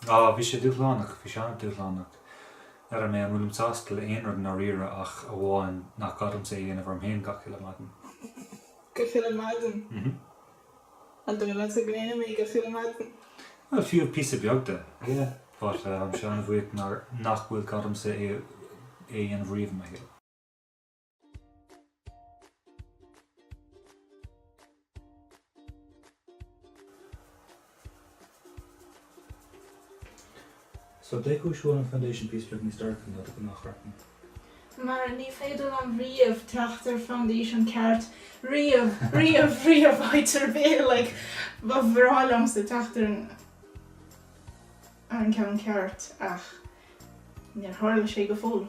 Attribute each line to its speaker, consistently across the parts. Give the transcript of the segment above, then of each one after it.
Speaker 1: Á, bhí sé dúshlánach, bhí sé an-dúshlánach. Ar, um, ní, an bhfuilim sásta le aon rud i ndáiríre ach amháin nach gá domsa é a dhéanamh orm féin gach uile mhaidin? Gach uile mhaidin? An dóigh leatsa go ndéanaim é gach uile mhaidin? Bhuel, fiú píosa beag de, yeah. But táimse an-bhuíoch nach bhfuil gá domsa é a dhéanamh riamh i mo shaol. So cén chúis a bhfuil an foundation píosa beag níos dorcha ná do ghnáthchraiceann. Mar ní féidir liom riamh teacht ar foundation ceart, riamh, riamh, riamh faightear béil, like, ba bhreá liomsa teacht ar an, ar an gceann ceart ach níor tharla sé go fóill.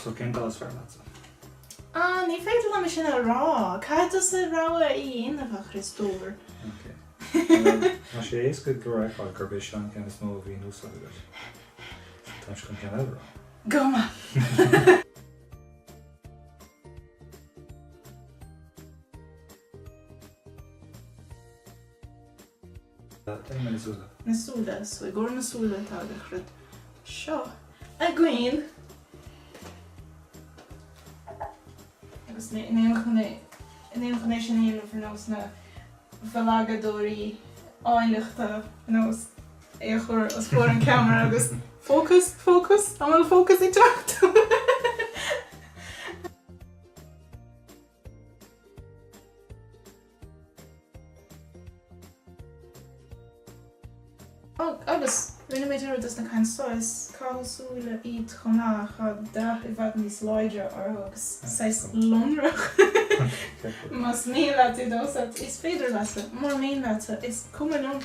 Speaker 1: So cén tsúil is fearr leatsa? Ah, ní féidir liom é sin a rá. Caithfidh tusa rogha a dhéanamh, a Chris Dore. Ok. Tá sé éasca go leor a rá gurb é seo an ceann is mó a bhí in úsáid agaibh. Táimse chun ceann eile a rá. Go maith! Déan na súile. na súile, so i gcomhair na súile tá an rud seo againn. Agus an bhfuilim chun é, an bhfuilim chun é sin a dhéanamh ar nós na mblagadóirí áilleachta ar nós é a chur os comhair an ceamara agus fócas, fócas, an bhfuil fócas ag teacht? Agus, rinne mé dearmad dos na cinn thuas, scáth súile iad chomh maith, tá dath i bhfad níos láidre orthu agus saghas lonrach. Más mian leat iad a úsáid, is féidir leatsa, mura mian leatsa, is cuma liom!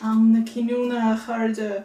Speaker 1: Am na cinniúna, a chairde!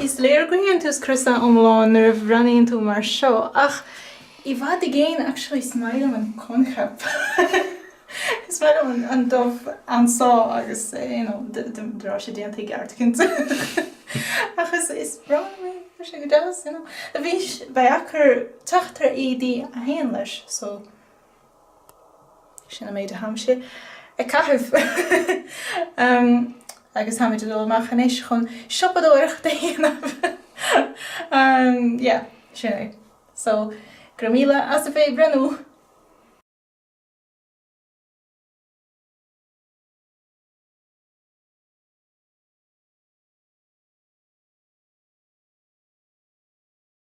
Speaker 1: Is léir go ndéanann tú scrios iomlán nuair a bhreathnaíonn tú mar seo, ach i bhfad i gcéin, actually, is maith liom an coincheap. Is maith liom an dubh anseo agus de réir sin déanta i gceart, cinnte, ach is breá liom é, tá sé go deas. Beidh sé deacair teacht ar éadaí a théann leis, so. Sin an méid atáimse ag caitheamh. Agus táimid ag dul amach anois chun siopadóireacht a dhéanamh. Yeah, sin é. So, go raibh míle as a bheith breathnú!